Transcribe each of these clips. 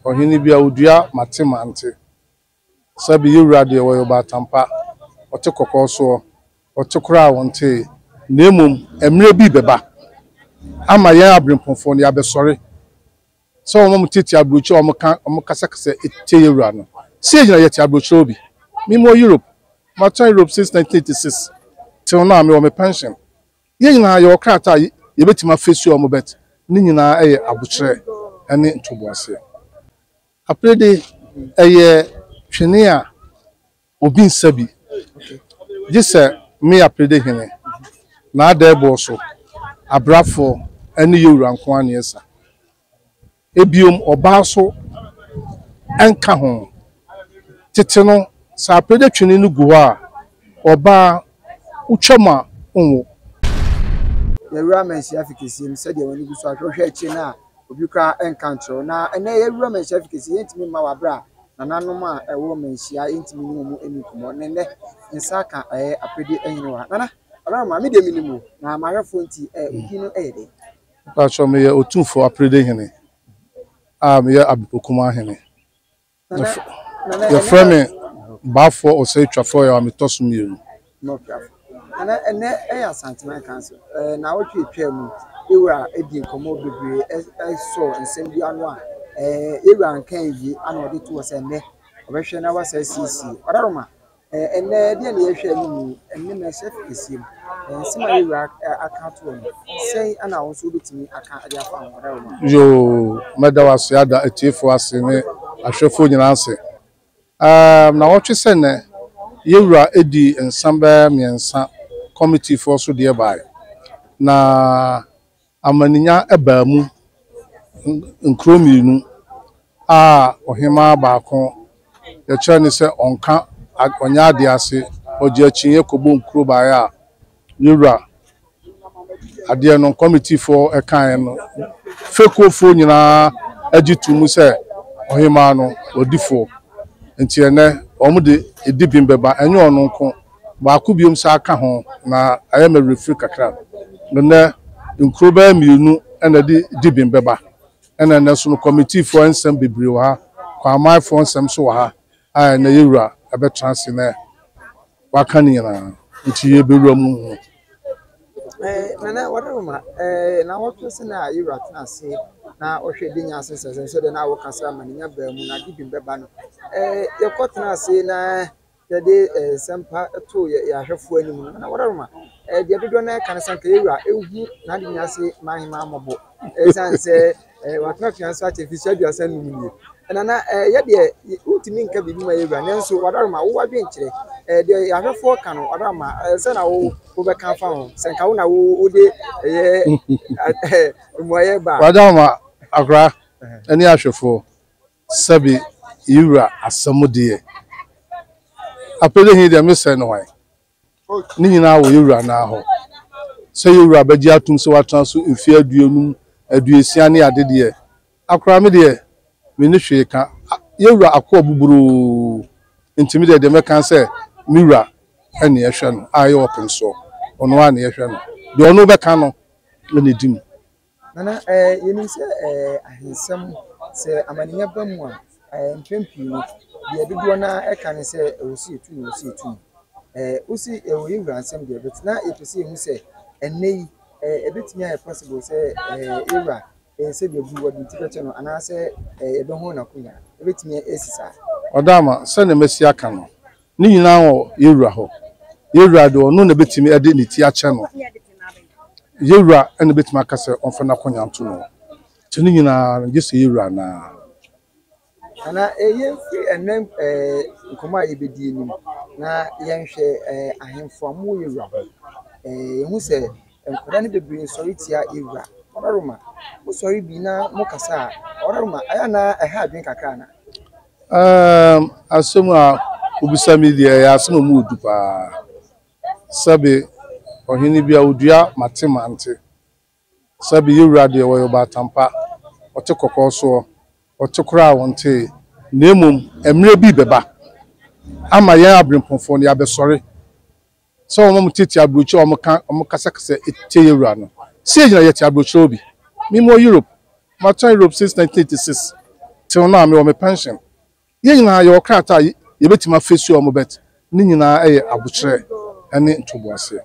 Ɔhene bi a odua mate mante sɛ beyɛ wura deɛ wɔyɛ ɔbaatan pa, ɔte kɔkɔɔ soɔ, ɔte koraa a ɔntee, na mmom mmerɛ bi rebɛba ama yɛn aberempɔnfoɔ no yɛabɛsɔre sɛ wɔn a wɔte te aburokyire a wɔka wɔn kasakasa tie yɛn wura no. Sei gyina yɛte aburokyire hɔ bi. Mewɔ Europe, matena Europe since 1986 till now mewɔ me pension. Yɛn nyinaa yɛwɔ krataa a yɛbɛtumi afesuo wɔn but ne nyinaa yɛ abokyerɛ ne ntoboaseɛ. Aperede ɛyɛ twene a obi nsa bi gye sɛ me Aperede Hene, N'Adɛɛboɔ so Abrafoɔ ne Yɛwura nko ara na yɛsa. Ebio ɔbaa so nka ho. Tsetse no, sɛ apregya twene no gu hɔ a, ɔbaa wotwa mu a onnwo. Yɛawu amansin afe kɛseɛ mu sɛdeɛ w'ani gu so a, hwɛ wohwɛ akyire no a, obi koraa nka nkyerɛ wo. Na ɛnnɛ yɛawu amansin afe kɛseɛ, yɛntumi mma w'abrɛ a nananom a ɛwɔ manhyia yɛntumi ne wɔn nni nkɔmmɔ. Na ɛnnɛ nsa aka ɛɛ Apredie Hene wɔ ha. Nana, Abraham, maame deɛ menim o, na m'ahwɛfoɔ nti ɛɛ, obi no yɛ dɛn? Mpakyɛw, meyɛ Otumfoɔ Aprede Hene a meyɛ Abepokumaa Hene. Yɛfrɛ me Baafoɔ Ɔsɛetwafoɔ Ɔyaw a metɔ so mmienu. Ɛnnɛ yɛ Asantehene Council nnawɔtwe atwaa mu yɛwura di nkɔmmɔ bebree sɔɔ nsɛm bi ano a yɛwura nkae wie ana ɔde to hɔ sɛ nnɛ ɔbɛhwɛ na wasa asiesie. Ɔdadoma. Ɛnnɛ, deɛn na yɛhwɛ no mu? Ɛnnɛ mɛ sɛ fi kɛseɛ mu. Nsɛm a yɛwura aka ato hɔ no, sɛn ana wo nso wobɛtumi aka de afa ho? Ɔda wo Yoo, mɛda wo ase ada atiefoɔ ase ne ahwɛfoɔ nyinaa ase. Um, na wɔtwe sɛ nɛ, yɛwura ɛdi nsa bɛɛ mmiɛnsa kɔmitifoɔ so deɛ bae. Na. Amaninya baa mu, nkuro mmienu a ɔhemaa baako yɛkyerɛ no sɛ ɔnka, ɔnyɛ adeɛ ase, ɔgye akyinnyeɛ kɔbɔɔ nkuro baeɛ a yɛn wura adeɛ no kɔmitifoɔ kaeɛ no, fekuofoɔ nyinaa gye too mu sɛ ɔhemaa no ɔdifoɔ. Nti ɛnnɛ wɔde dibem bɛba, ɛnyɛ ɔno nko. baako biom saa ka ho na ayɛ me werɛfiri kakra. Nnɛ nkuro bɛyɛ mmienu na ɛde di bem bɛba. Ɛna nnɛ nso no kɔmitiifoɔ nsɛm bebree wɔ ha, Kwamanfoɔ nsɛm nso wɔ ha a ɛnɛ yɛn wura bɛtena ase na waka ne nyinaa nti yɛbɛwura mu. Nana Wadaruma, nnawɔtwe sɛn a yɛn wura tena ase na ɔhwɛ de nya ase nsɛnsɛm sɛdeɛ na wokasa ma no nya baa mu na ade bem bɛba no, yɛkɔ tena ase na Yɛde nsɛmpa too yɛn ahwɛfoɔ anim no, na wɔrema. Deɛ dodoɔ no ara ka no sɛ, anka yɛn wura nhu n'ade nyinaa ase mma ahemmaa mmɔbɔ, ɛsiane sɛ watena afiase so akyɛ mfirihyia aduasa nnum nie. Nana, yɛ deɛ, wontumi nka biribi ma yɛn wura, nanso Wadarima, wo adwene kyerɛ. Deɛ yɛn ahwɛfoɔ ka no, Wadarima, sɛn na wo wobɛka afa ho, sɛ anka wo na wo wode ɛyɛ mmuaeɛ ba a? Wadarima, akoraa ne ahwɛfoɔ, Sɛbe yi wura asɛm deɛ. Apɛde he deɛ me sɛ no hwan? Ne nyinaa wɔ yɛ wura no ara hɔ. Sɛ yɛ wura bɛgye atom sɛ watena so mfeɛ aduonum, aduosia ne ade deɛ a koraa me deɛ menni hwee ka. Yɛ wura akoa buburoo nti me deɛ deɛ mɛka ne sɛ me wura ne yɛhwɛ no a ɛyɛ ɔpensoɔ. Ɔno ara ne yɛhwɛ no. Deɛ ɔno bɛka no na ɛdi mu. Nana, ɛɛ, yɛnim sɛ, ɛɛ, ahensɛm, sɛ amanneɛ ba mu a, ɛɛ, mpɛn pii no, deɛ dodoɔ no ara ɛka ne sɛ, ɛwɔ sɛ yɛtu no, ɛwɔ sɛ yɛtu no. Ɛɛ, wo se ɛwɔ yɛn wura nsɛm deɛ, but na yɛpɛ sɛ yɛhu sɛ, ɛnnɛ yi, ɛɛ, ɛbɛtumi ayɛ possible sɛ, ɛɛ, yɛn wura, ɛɛ, sɛdeɛ bu wɔde ti bɛkyɛ no, anaasɛ, ɛɛ, yɛbɛhono n'akonwa. Ɛbɛtumi asi saa? Ɔdaama, sɛdeɛ masi aka no, Ne nyinaa wɔ yɛn Wura hɔ. Yɛn Wura deɛ, Ɔno na ɛbɛtumi ɛde Ne ti akyɛ no. Yɛn Wura na ɛbɛtumi aka sɛ ɔmfa n'akonya nto no. Nti ne nyinaa no, gye sɛ yɛn Wura no ara. Anaa ee, yɛmfiri ɛnnɛ ee, nkɔmmɔ a yɛbɛdi yi anim, na yɛnhwɛ ee, ahemfo a wɔwɔ yɛn Wura hɔ yi. Ee, yɛhu sɛ nkwadaa no bebree sɔre tia yɛn Wura. Ɔbarima, mosɔre bi na mokasa a, Ɔbarima, ɛyɛ a na ɛha adwene kakra anaa? Um, asɛm a wobisa me deɛ ɛyɛ asɛm a mu yɛ du paa. Sɛbe ɔhene bi a odua mate mante. Sɛbe yewura deɛ wɔyɛ ɔbaatan pa, ɔte kɔkɔɔ soɔ, ɔte koraa a ɔntee. Na mmom mmerɛ bi bɛba ama yɛn abirempɔnfoɔ no yɛabɛsɔre. Sɛ wɔn a wɔtete aburokyiri a wɔka wɔn kasa kasa tie yɛn wura no. Sɛ yɛgyina yɛte aburokyerɛw bi. Me mewɔ Europe. Matena Europe since 1986 till now mewɔ me pension. Yɛn nyinaa yɛwɔ krataa a yɛbɛtumi afesuo wɔn but ne nyinaa ɛyɛ abokyerɛ ɛne ntoboaseɛ.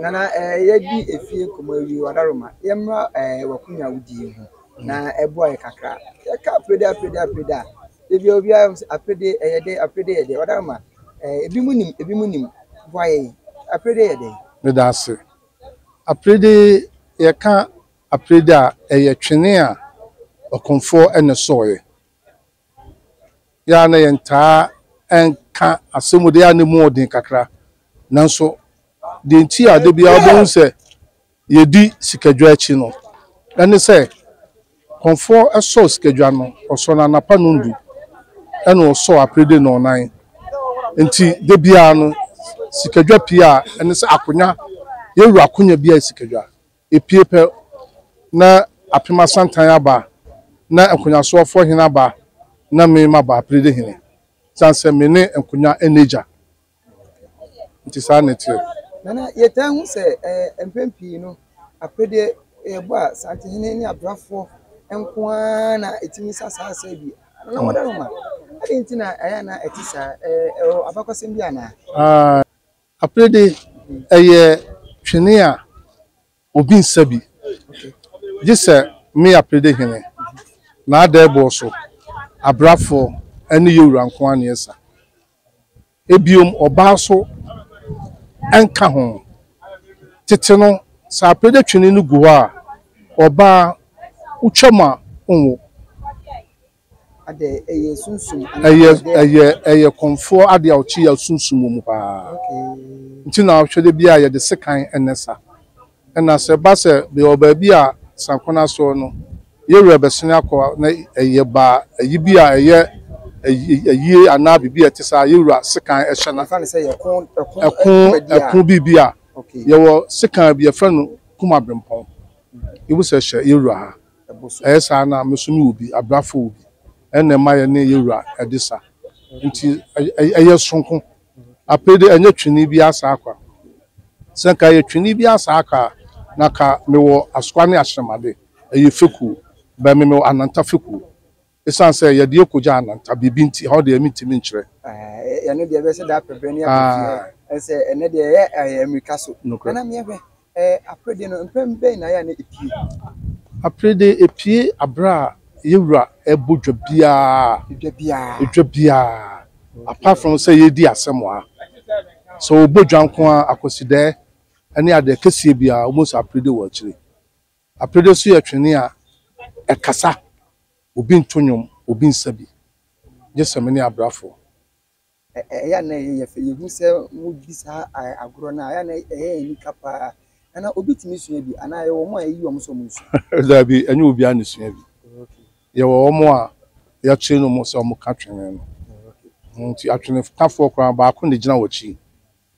Nana eh, yɛadi efie nkɔmmɔ awie, Wadaroma, yɛmmra eh, w'akonya a wodi yi ho na ɛboa yɛ kakra. Yɛka aprede, aprede, aprede a, da biara obiara sɛ aprede ɛyɛ dɛ, aprede yɛ dɛ, Wadaroma. Eh, ebi mu nim, ebi mu nim. Boa yɛn. Aprede yɛ dɛn? Meda ase. Aprede, yɛka aprede a, ɛyɛ twene a ɔkɔmfoɔ ne sɔɔɛ. Yɛa na yɛntaa ɛnka asɛm de a ne mu ɔden kakra. Nanso, deɛ nti a da biara wobɛhu sɛ. Yedi sikadwa akyi no, ɛne sɛ kɔmfoɔ sɔ sikadwa no, ɔsɔ no anapa nnɔndu ɛna ɔsɔ aperede nnɔnnan. Nti da biara no sikadwa pie a, ɛne sɛ akonya, yɛwura akonya biara yɛ sikadwa. Ɛpie pɛ na Apem Asantan aba, na Nkonyasoɔfoɔ Hene aba, na me maba, Aperede Hene. Ɛsiane sɛ me ne Nkonya ɛna agya, Nti saa na ɛteɛ. Nana, yɛtaa hu sɛ mpɛn pii no, aperedeɛ yɛbɔ a, Santehene ne abrafoɔ nko ara na ɛtumi sa saa asɛe bi. Nana, wode no ma. Adɛn nti na ɛyɛ a na ɛte saa? Ɛwɔ abakɔsɛm bi anaa? Aperedeɛ, ɛyɛ twene a Obi nsa bi, gye sɛ me Aprede hene, n'adɛɛboɔ so abrafoɔ ne Yowura nko ara na ɛsa. Ebiom, ɔbaa nso nka ho. Tete no, sɛ Aprede twene no gu hɔ a, ɔbaa, wotwam a, wonwo. Ɛyɛ ɛyɛ kɔmfoɔ adeɛ a ɔkye yɛ sunsum wɔ mu paa nti na ɔhwɛ dɛ biara yɛde sekan ɛnɛ sa ɛna sɛ ɛba sɛ bɛwɔ baabi a sanku no asoɔ no yɛ werɛ bɛsene akɔ na ɛyɛ ba ayi bi a ɛyɛ ayie anaa biribi a ɛte saa yɛ wura sekan ɛhyɛ no ɛko ɛko biribi a yɛwɔ sekan bi yɛfrɛ no Kum Abrempɔn yɛwura ha. Ɛyɛ saa na me nso mewɔ bi, abrafo wɔ bi. Ɛnna ɛma yɛne yɛn wura de sa. Enti ɛyɛ soronko. Apere de, ɛnyɛ twene biara saa kwa. Sɛ anka ɛyɛ twene biara saa kwa a, na anka mewɔ Asoa ne Ahyɛmma de, ɛyɛ fekuo. Bɛn me, mewɔ Ananta fekuo. Esiane sɛ yɛde akogya ananta biribi nti, ɛhɔ deɛ mentumi nkyerɛ. Aah, ɛno deɛ ɛbɛyɛ sɛ daa pɛbrɛ ne abotire. Aah. Ɛnsɛ, ɛnnɛ deɛ ɛyɛ ɛɛ mmirika so. Nokorɛ. Nana Meah hwɛ, ɛɛ aperede no, mprɛn bɛn na ɛyɛ a na epue? Aperede, epue aberɛ a yɛn wura rebɔ dwa biara. Edwa biara? Edwa biara. Okay. Apart from sɛ yɛredi asɛm a, sɛ ɔbɔ dwa nko ara, Akwasidɛɛ ne adeɛ kɛseɛ biara, wobɛhu sɛ aperede wɔ akyire. Aperede nso yɛ twene a ɛkasa, obi nto nnwom, obi nsa bi, gye sɛ me ne abrafo. Ɛyɛ a na ɛyɛ fɛ. Yehu sɛ wodi saa agorɔ no a, ɛyɛ a na ɛyɛ yɛn anika paa. Na na obi tumi sua bi, anaa ɛyɛ wɔn a yɛyi wɔn sɛ wɔnsua? Dabi, ɛnyɛ obiara na esua bi. Yɛwɔ wɔn a yɛkyere wɔn sɛ wɔka twene no. Enti atwenekafoɔ koraa, baako na egyina w'akyi.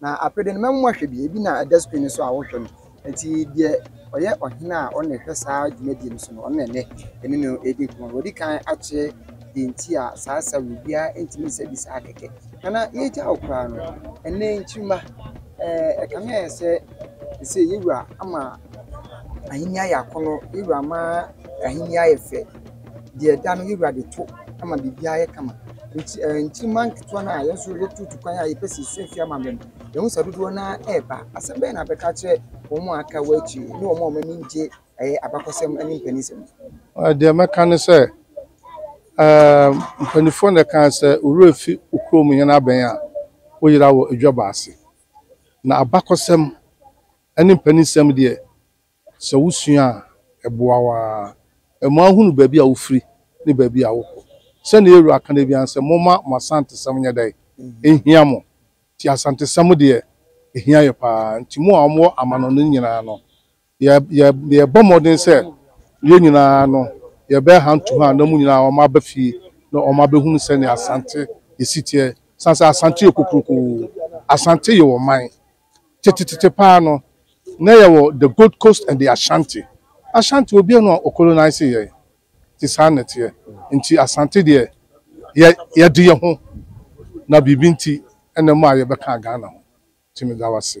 Na aprede no, mɛma moahwɛ bi, ebi na ɛda screen no so a wohwɛ no. Enti deɛ ɔyɛ ɔhene a ɔno na ɛhwɛ saa dwumadie no so no, ɔno na ɛnnɛ yɛne no redi nkɔmmɔ no. Wadi kan akyerɛ deɛ nti a saa sa wei biara ntumi nsa bi saa kɛkɛ. Nana, yɛregya wo koraa no, ɛnnɛ nkyirimma, eh, ɛkame ayɛ sɛ seesei yɛn wura ama ahennie ayɛ akɔnnɔ, yɛn wura ama ahennie ayɛ fɛ. deɛ ɛda no yɛwura de to ma biribiara yɛ kama nti ɛɛ nkyirima nketewa no a yɛn nso yɛtutu kwan a yɛpɛ sɛ yɛsua fie amammerɛ no yɛhu sɛ dodoɔ no ara ɛreba asɛm bɛyɛ na abɛka kyerɛ wɔn a aka wɔ akyire ne wɔn a wɔn ani gye ɛyɛ abakɔsɛm ne mpanisɛm. deɛ mɛka ne sɛ ɛɛ mpanimfoɔ na ɛka sɛ owura fi okuro mu yɛn abɛn a woyera wɔ adwa baase na abakɔsɛm ne mpanisɛm deɛ Sɛ wusua a, ɛboa wo ara. Ɛma wohunu baabi a wufiri ne baabi a wokɔ. Sɛnea yɛn Wura ka no biara ne sɛ, Momma mo asantesɛm nyɛ dɛn? Nhia mo. Enti asantesɛm deɛ, ɛhia yɛn pa ara. Enti mo a mowɔ amanɔne no nyinaa no, yɛrebɔ mmɔden sɛ yɛn nyinaa no, yɛbɛyɛ hantuha na mo nyinaa wɔaba fie na wɔabɛhunu sɛnea Asante si teɛ. Ɛsiane sɛ Asante yɛ kokuroko. Asante yɛ ɔman. Tetetete paa no, na yɛwɔ the Gold Coast and the Ashanti. Ashanti, obiara nni hɔ a ɔcolonise yɛn. Nti saa na ɛteɛ. Nti Asante deɛ, yɛ, yɛde yɛn ho, na biribi nti na mmaa yɛbɛkaa Ghana ho. Nti meda wo ase.